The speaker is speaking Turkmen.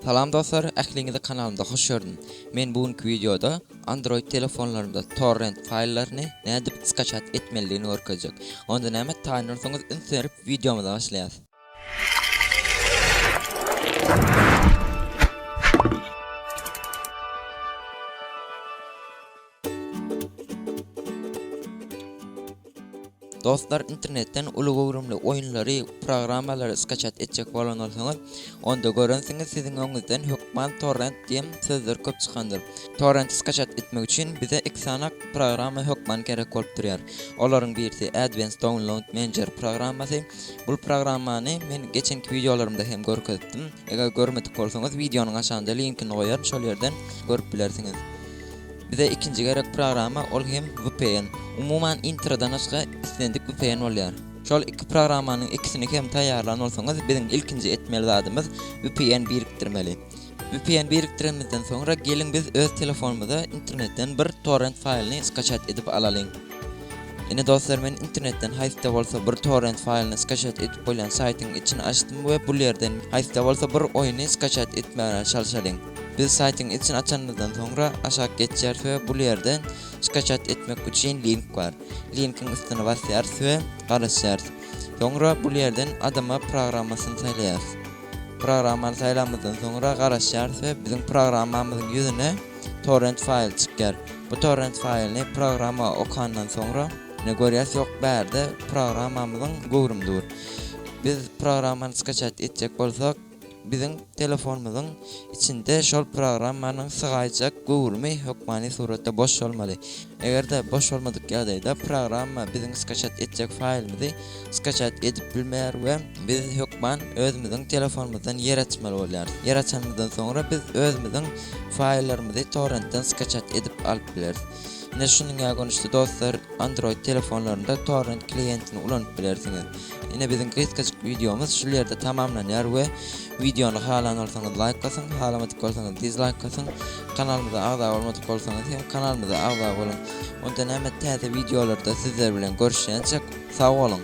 Salam dostlar, ähliňizi kanalymda hoş gördüm. Men bu günki wideoda Android telefonlarymda torrent faýllaryny nädip skaçat etmelidigini görkezjek. Onda näme, taýynlansaňyz üns berip wideomyza başlaýas. Dostlar internetden uly göwrümli oýunlary, programmalary skaçat etjek bolan bolsaňyz, onda görensiňiz siziň öňüňizden hökman torrent diýen sözler köp çykandyr. Torrenti skaçat etmek üçin bize iki sany programma hökman gerek bolup durýar. Olaryň birisi Advanced Download Manager programmasy. Bul programmany men geçenki wideolarymda hem görkezipdim. Eger görmedik bolsaňyz wideonyň aşagynda linkini goýaryn şol ýerden görüp bilersiňiz. Bize ikinji gerek programa ol hem vpn. Umuman introdan başga islendik vpn bolýar. Şol iki programanyň ikisini hem taýýarlan bolsaňyz biziň ilkinji etmeli zadymyz vpn birikdirmeli. Vpn birikdirenimizden soňra geliň biz öz telefonymyza internetden bir torrent faýlyny skaçat edip alalyň. Ine dostlar men internetden haýsda bolsa bir torrent faýlyny skaçat edip bolýan saýtyň içini açdym we bul ýerden haýsda bolsa bir oýny skaçat etmäge çalşalyň. Biz saýtyň içini açanymyzdan soňra aşak geçýärys we bul ýerde skaçat etmek üçin link bar. Linkiň üstüne basýarys we garaşýarys. Soňra bul ýerden adama programmasyny saýlaýarys. Programmany saýlamyzdan soňra garaşýarys we biziň programmamyzyň ýüzüne torrent faýly çykýar. Bu torrent faýlyny programma okandan soňra ine görýäris ýok bärde programmamyzyň göwrümi dur. Biz programmany skaçat etjek bolsak, Biziň telefonymyzyň içinde şol programmanyň sygaýjak göwrümi hökmany suratda boş bolmaly. Eger-de boş bolmadyk ýagdaýda programma biziň skaçat etjek faýlymyzy skaçat edip bilmeýär we biz hökman özümiziň telefonymyzdan ýer açmaly bolýarys. Ýer açanymyzdan soňra biz özümiziň faýllarymyzy torrentden skaçat edip alyp bileris. Ine şunuňa görnüşde dostlar Android telefonlarynda torrent kliýentini ulanyp bilersiňiz. Ine biziň gysgajyk wideomyz şul ýerde tamamlanýar we wideony halan bolsaňyz laýk basyň, halamadyk bolsaňyz dizlaýk basyň. Kanalymyza agza bolmadyk bolsaňyz hem kanalymyza agza boluň. Onda näme täze wideolarda sizler bilen görüşýänçek sag boluň.